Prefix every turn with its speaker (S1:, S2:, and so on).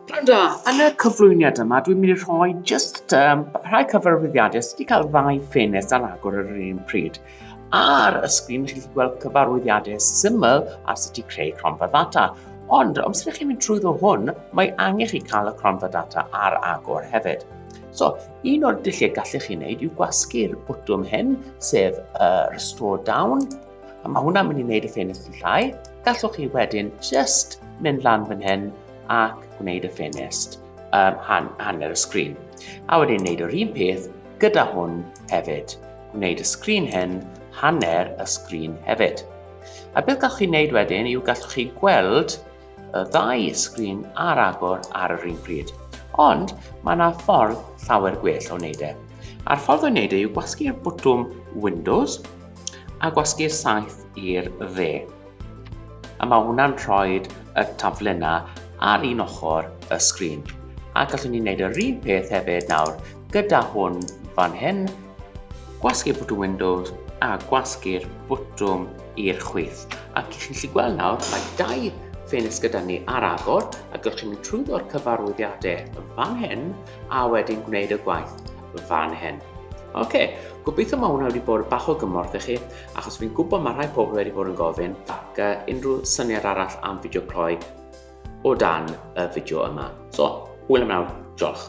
S1: Pnawn da, yn y cyflwyniad yma dwi'n mynd i rhoi jyst um, rhai cyfarwyddiadau sydd wedi cael ddau ffenest ar agor ar yr un pryd. Ar y sgrin chi'n gallu gweld cyfarwyddiadau syml ar sut i creu cronfa ddata. Ond os ydych chi'n mynd trwy ddo hwn, mae angen chi cael y cronfa data ar agor hefyd. So, un o'r dulliau gallech chi wneud yw gwasgu'r bwtwm hyn, sef uh, Restore Down, A mae hwnna'n mynd i wneud y ffenest yn llai. Gallwch chi wedyn just mynd lan fan hyn ac gwneud y ffenest um, han, hanner y sgrin. A wedyn wneud yr un peth gyda hwn hefyd. Gwneud y sgrin hyn hanner y sgrin hefyd. A beth gallwch chi wneud wedyn yw gallwch chi gweld y ddau sgrin ar agor ar yr un pryd. Ond mae yna ffordd llawer gwell o wneud e. A'r ffordd o wneud e yw gwasgu'r bwtwm Windows a gwasgu'r saeth i'r dde. A mae hwnna'n rhoi y taflenau ar un ochr y sgrin. A gallwn ni wneud yr un peth hefyd nawr gyda hwn fan hyn, gwasgu'r bwtwm Windows a gwasgu'r bwtwm i'r chwith. A gallwn chi'n lli gweld nawr, mae dau ffenest gyda ni ar agor, a gallwn chi'n mynd trwyddo'r cyfarwyddiadau fan hyn, a wedyn gwneud y gwaith fan hyn. Oce, okay. gobeithio mae hwnna wedi bod bach o gymorth i chi, achos fi'n gwybod mae rhai pobl wedi bod yn gofyn, ac uh, unrhyw syniad arall am fideo cloi o dan y fideo yma. So, hwyl am nawr, diolch.